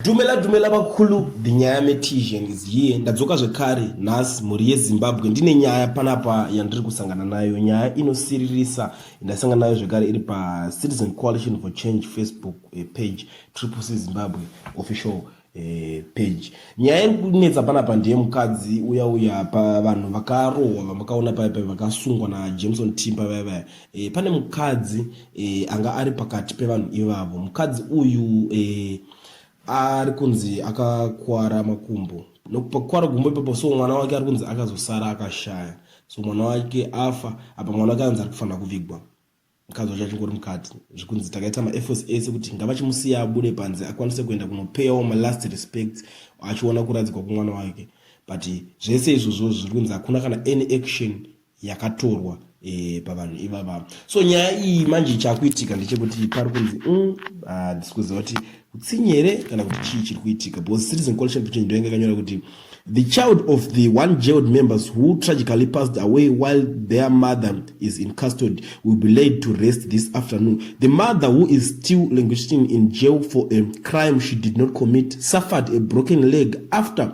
Dumela dumela vakulu the nyaya metisian is here ndadzoka zvekare nhasi mhuri yezimbabwe ndine nyaya panapa yandiri kusangana nayo nyaya inosiririsa ndasangana nayo zvekare iri pacitizen coalition for change facebook eh, page triple c zimbabwe official eh, page nyaya iri kunetsa panapa ndiye mukadzi uya uya pavanhu vakarohwa vamakaona paipai vakasungwa najameson timba vaya vaya E, pane mukadzi e, anga ari pakati pevanhu ivavo. Mukadzi uyu e, ari kunzi akakwara makumbo nokupakwara gumbo ipapo, so mwana wake ari kunzi akazosara akashaya, so mwana wake afa. Apa mwana wake anzi ari kufanira kuvigwa, mukadzi wacho achingori mukati. Zvikunzi takaita maefforts ese kuti ngavachimusiya abude panze akwanise kuenda kunopeyawo malast respect achiona kuradzikwa kwemwana wake, but zvese izvozvo zviri kunzi hakuna kana any action yakatorwa e, pavanhu ivava so nyaya iyi manje chakuitika ndechekuti pari kunzi mm, handisi kuziva kuti utsinye here kana kuti chii chiri kuitika because citizen collection petition ndoyanga yakanyora kuti the child of the one jailed members who tragically passed away while their mother is in custody will be laid to rest this afternoon the mother who is still languishing in jail for a crime she did not commit suffered a broken leg after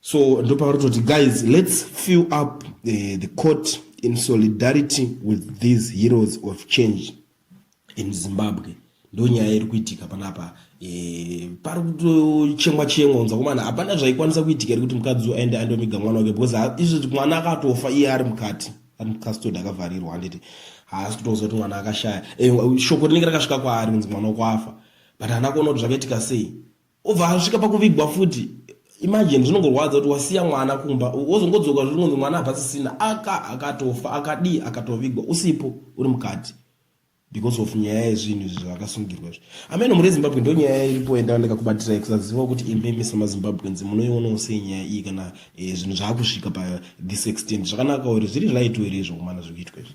so ndopauri toti guys let's fill up the, the court in solidarity with these heroes of change in zimbabwe ndo nyaya iri kuitika panapa e, pari kutochemwa chemwa unza kumana hapana zvaikwanisa kuitika iri kuti mukadzi aende andomiga mwana wake because izvi mwana akatofa iye ari mukati ari mukastod akavharirwa handiti haasi kutoziva kuti mwana akashaya e, shoko rinenge rakasvika kwaari kunzi mwana kwafa but hana kuona kuti zvakaitika sei obva asvika pakuvigwa futi imagine zvinongorwadza kuti wasiya mwana kumba wozongodzoka zviri kunzi mwana abva sisina aka akatofa akadii akatovigwa usipo uri mukati because of nyaya yezvinhu izvi zvakasungirwa izvi ameno muri ezimbabwe ndo nyaya iripo yandava ndakakubatira kusaziva kuti imimi samazimbabweans munoionawo sei nyaya iyi kana eh, zvinhu zvaakusvika pa this extent zvakanaka uri zviri right ere izvo kumana zvikuitwa izvi